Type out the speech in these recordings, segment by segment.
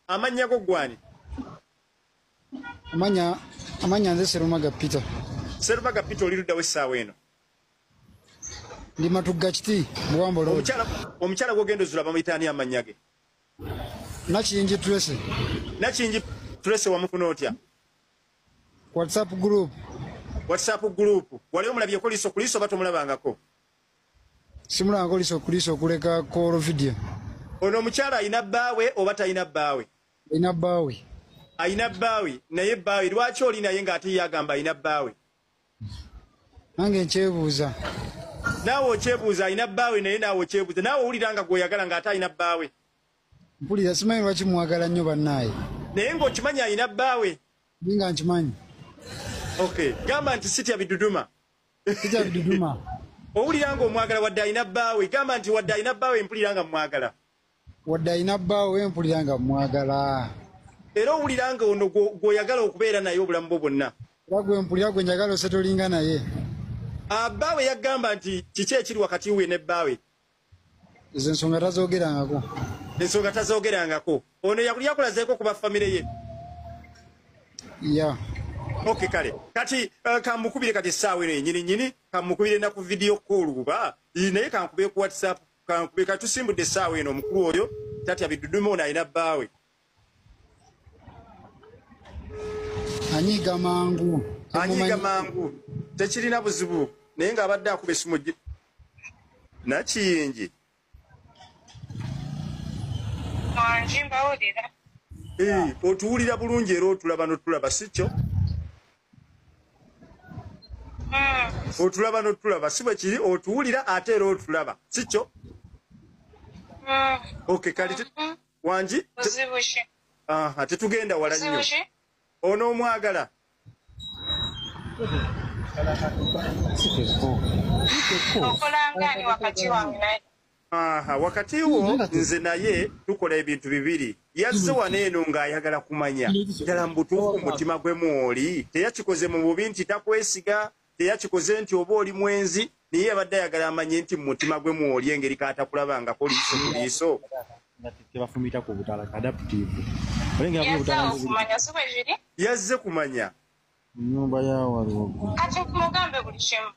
amannya go gwani amanya amanya nze serumaga peter serumaga peter oli luddawo essaawa eno ndi matugga kiti buwambo lo omukyala gwogenda ozula bamuyita ani amannya ge nakingi trese nakingi trese wamufuna otya whatsapp group whatsapp group wali omulabyeko liso ku liso oba tomulabangako simulanga olisa okulisa okuleka kolo vidio ono omukyalo ayina bbaawe oba talina bbaawe ayina bbaawe ayina bbaawe naye bbaawe lwaki oli naye ng'ate ye agamba ayina bbaawe nange nkyebuuza naawe okyebuuza ayina bbaawe naye naawe okyebuuza naawe owulira nga gweoyagala ng'ate alina bbaawe mpulira simanyi lwaki mwagala nnyo bannaaye naye ng'okimanyi alina bbaawe ninga nkimanyi okay gamba nti sitya biduduma owulira nga omwagala wadde alina bbaawe gamba nti wadde alina bbaawe mpulira nga mwagala wadde alina bbaawe mpulira nga mwagala era owulira nga ono gwoyagala okubeera naye obulamu bwo bwonna era gwe mpulira gwe njagala osetolinga naye abbaawe ah, yagamba nti kiki ekiri wakati we ne bbaawe ezo ensonga tazogerangako ensonga tazogerangako ono yakuli yakulazeeko kuba famire ye ya ok kale kati uh, kamukubire kati essaawa eno yenyini nyini kamukubire naku vidiyo koolu kuba naye kankubire ku whatsapp kankubire kati tusimbudde essaawa eno omukulu oyo tatya bidudume ono alina bbaawe anyiiga mangu anyiiga mangu tekirina buzibu naye ng'abadde akuba esimu nakiyingi eh, otuwulira bulungi era otulaba notulaba sikyo hmm. otulaba notulaba si bwe kiri otuwulira ate era otulaba sikyo hmm. ok kale hmm. wangi tetugenda wala nnyo ono omwagala wakati wo nze naye tukola ebintu bibiri yazze wano eno ng'ayagala kumanya ddala mu butuufu mutima gwe mwoli teyakikoze mu bubi nti takwesiga teyakikoze nti oba oli mwenzi naye yabadde ayagala amanye nti mumutima gwe mwoli engeri kaatakulabangako liiso ku liiso tebafumita ku butala adaptive yazze kumanya nyumba yawaliwokati mugambe buli kimu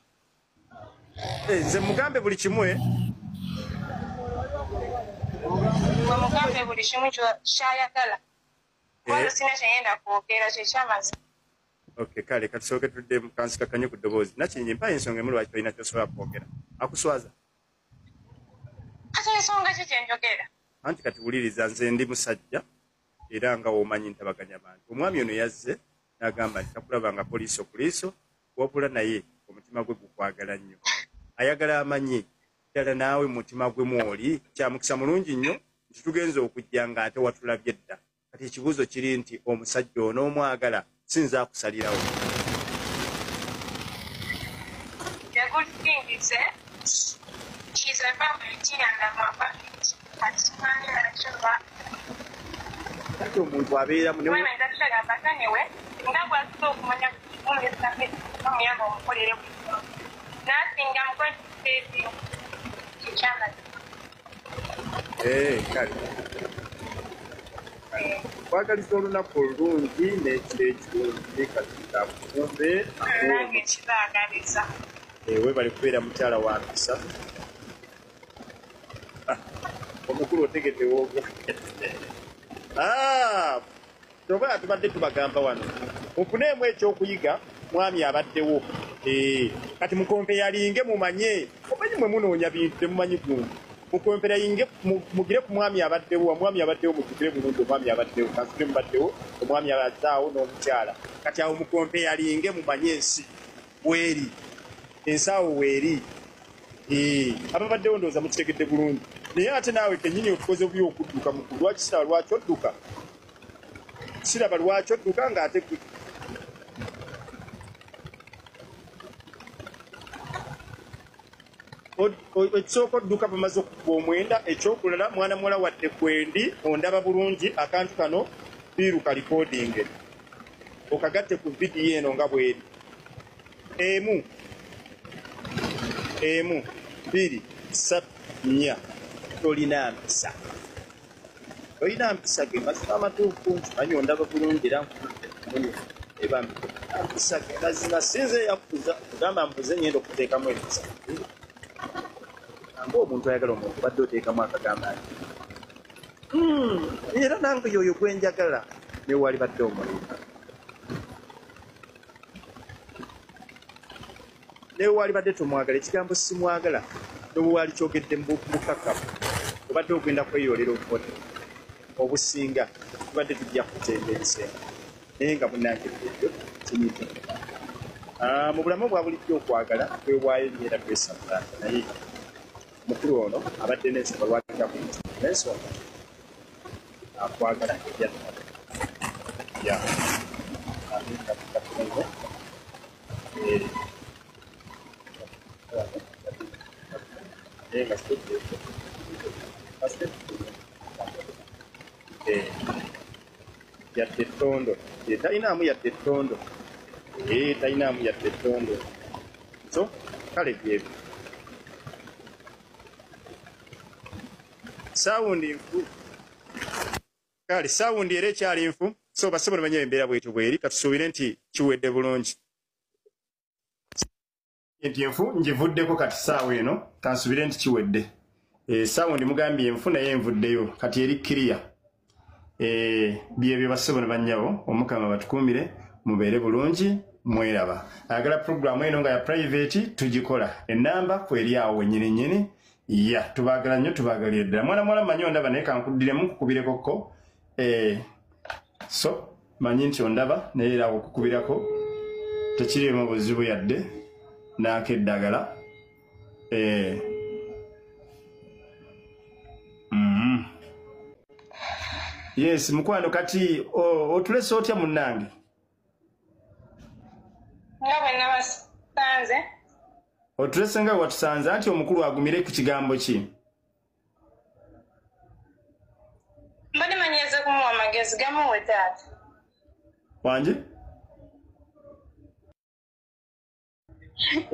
eh, nze mugambe buli kimu e mugambe buli kimu kyayagala wano eh. sina kyeyenda kwogera kyekyamazi Okay, kale kati soke tudde mu kansika kanyo ku ddoboozi nakingi mpa ensonga emu lwaki tolina kyosobola kwogera akuswaza kati ensonga ki gyenjogera anti kati wuliriza nze ndi musajja era nga womanyi ntabaganya bantu omwami ono yazze n'agamba nti takulaba nga poliisi okuliiso wabula naye omutima gwe gukwagala nnyo ayagala amanyi ddala naawe mutima gwe mwoli kyamukisa mulungi nnyo nti tugenza okujja ng'ate watulabye dda kati ekibuuzo kiri nti omusajja onoomwagala sinza akusalirawo kati omuntu abeeramu Eh, kale kwagaliza olunaku olulungi n'ekiro ekirungi katonda akukumbe eh, webale kubeera mukyala wa mpisa ah, omukulu otegedewogo ah! Kyogala tubadde tubagamba wano mufuneemu ekyokuyiga mwami abaddewo eh, kati mukompe yalinge mumanye omanyi mwe munoonya bintu temumanyi gundu mukompera yinge mugire ku mwami abaddewo omwami abaddewo mukugire bulungi omwami abaddewo kasule mubaddewo omwami abazaawo n'omukyala kati awo mukompe yalinge mumanye ensi weeri ensaawo weeri eh, ababaddewo ndowooza mukitegedde bulungi naye ate naawe kenyini otukoze buyo okudduka mukulu lwakisala lwaki odduka siraba lwaki odduka nga ate gwe ekisooka odduka bamaze okukuba omwenda ekyokulala mwana muwala wadde kwendi ondaba bulungi akantu kano biiru kalikodinge okagatte ku vidiyo eno nga bweri emu emu biri satu nya tolina mpisa olina mpisa ge mazima amatuufu nkimanyi ondaba bulungi era nkumunyi eba mpisa ge mazima sinze eyakuza kugamba mbuze nyenda okuteekamu empisa amba omuntu ayagala omuntu badde oteekamu akagamba nti hmm, era nange yoyo gwenjagala newali badde omulinga naye waalibadde tomwagala ekigambo simwagala nobuwaali kyogedde mubukakamu obadde ogenda kweyoolera obubone obusinga tubadde tujja kutemba ensenga naye nga munange ebyo kinyiza ah, mu bulamu bwa bulijjo okwagala kwewaayo nyeera twesamulanga naye mukulu ono abadde nensonga lwakija ku mutima nensonga akwagala ebyaaa yadde ettondo talinaamu yadde ettondo talinaamu yadde ettondo so kale byebyo sawundi nfu kale sawundi era ekyali nfu so basebo nemanya embeera bwetyo bweri katusuubire nti kiwedde bulungi nti enfu ngivuddeko kati saawa eno kansubire nti kiwedde eh, sawundi mugambye enfu naye envuddeyo kati eri kiriya eh, byebyo basebo nebanyabo omukama batukuumire mubeere bulungi mweraba ayagala puroguramu eno nga ya private tugikola enamba kweryawo wenyini nyini ya tubagala nnyo tubagalire ddala mwana muwala manyi ondaba naye kankuddiremu nkukubireko eh, so manyi nti ondaba naye era okukubirako tekirimu buzibu yadde naako eddagala eh. mm-hmm. yes mukwano kati otulese otya munnange nga bwe nabasanze otulese nga watusanze anti omukulu agumire ku kigambo ki mbadde manyize kumuwa amagezi gamuwe taata wangi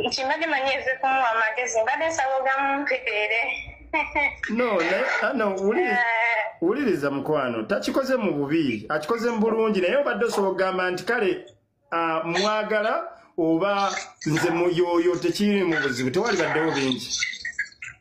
nti mbadde manyi eze kumuwa amagezi mbadde nsaba ogamumpeere no naye ah, no wuliriza Eh, wuliriza mukwano takikoze mu bubi akikoze mu bulungi naye obadde osobola okugamba nti kale ah, mwagala oba nze muyoyo tekiri mu buzibu tewalibaddewo bingi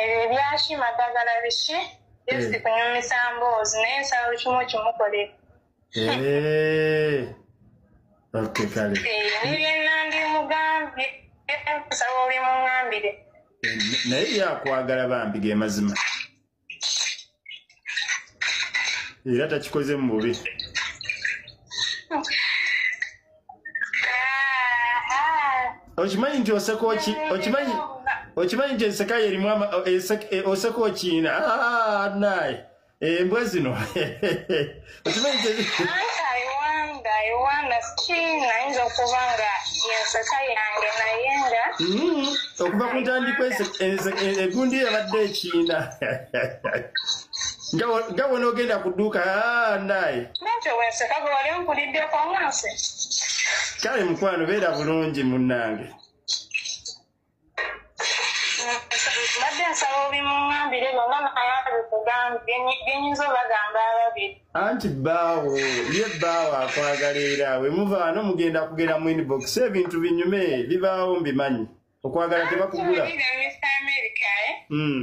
ebyo ebyaki madagala biki just Eh. kunyumisa mboozi naye nsaba buli kimu okimukolera Eh. ok kale Eh, nebyenandimugambye nsaba obimuŋambire naye yakwagala bambi ge mazima era takikoze mu bubi okimanyi nti oseka oki okimanyi okimanyi nti enseka yerimu oseka okiina naye embwa zino okimanyi kye aiwanga aiwanga ki nayinza okuba nga yenseka yange naye nga mm-hmm. okuva ku ntandikwa egundi yabadde ekiina nga wona ogenda ku dduuka ah, naye nakyo wenseka gwe wali onkuliddeko ngansi kale mukwano beera bulungi munnange mbadde nsaba obimuŋambire byonna naye abikugambye byenyinza obagamba ababiri anti bbaawo ye bbaawo akwagala era we muvaano mugenda kugera mu inbox ebintu binyume bibaawo mbimanyi okwagala tebakugula eh? hmm.